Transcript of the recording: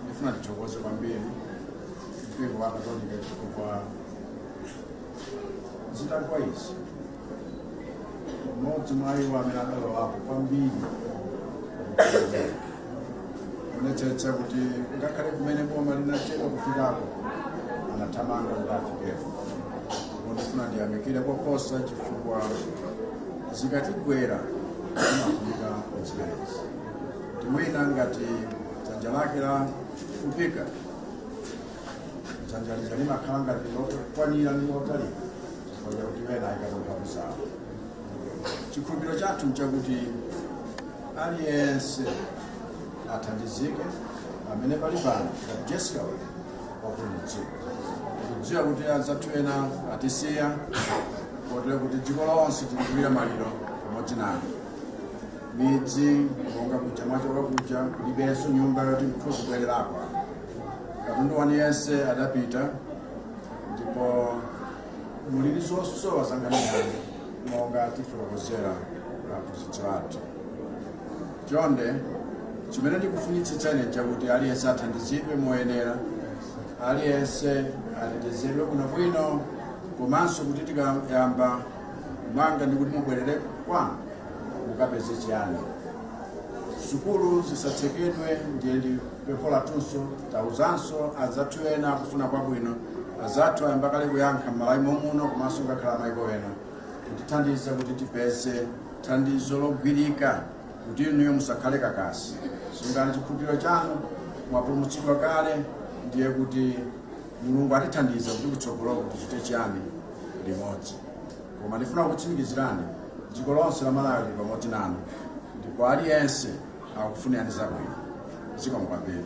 Ndifuna ndithokoze kwambiri mpingo wa Katolika chifukwa zitagwa izi mmodzi mwa iwo amene adalowapo kwambiri kuonetsetsa kuti ngakhale kumene boma linachedwa kufikako anathamanga kuti afikeko ndifuna ndiyamikire koposa chifukwa zikatigwera zimafunika kuzipereka kuti wina ngati dzanja lake lafupika dzanja lija limakhala ngati lokwanira ndi lotalika chifukwa chakuti ena aikapo mphamvu zawo chikhulupiriro chathu nchakuti aliyense athandizike amene pali pano ngati Yesu wake wapulumutsidwa tikudziwa kuti anzathu ena atisiya kotero kuti dziko lonse tikuchitira maliro pamodzi nawo midzi monga kuja mwachoka kuja kulibenso nyumba yoti mungathe kubwererako katundu wanu yense adapita ndipo muli ndi zosowa zankhaninkhani monga atifotokozera aphunzitsi athu chonde chimene ndikufunitsitsa ine nchakuti aliyense athandizidwe moyenera aliyense atetezedwe kuno bwino komanso kuti tikayamba kumanga ndikuti mubwerere kwanu mukapeze chiyani? Sukulu zisatsekedwe ndiye ndi pempho lathunso. Tauzanso anzathu ena akufuna kwabwino. Anzathu ayamba kale kuyankha m'Malawi momuno komanso ngakhale amaiko ena kutithandiza kuti tipeze thandizo logwirika kuti inuyo musakhale kakasi. Sungani chikhulupiriro chanu, mwapulumutsidwa kale ndiye kuti Mulungu atithandiza kuti kutsogoloko tichite chiyani limodzi. koma ndifuna kutsimikizirani dziko lonse la malawi lili pamodzi nanu ndipo aliyense akufunirani zabwino zikomo kwambiri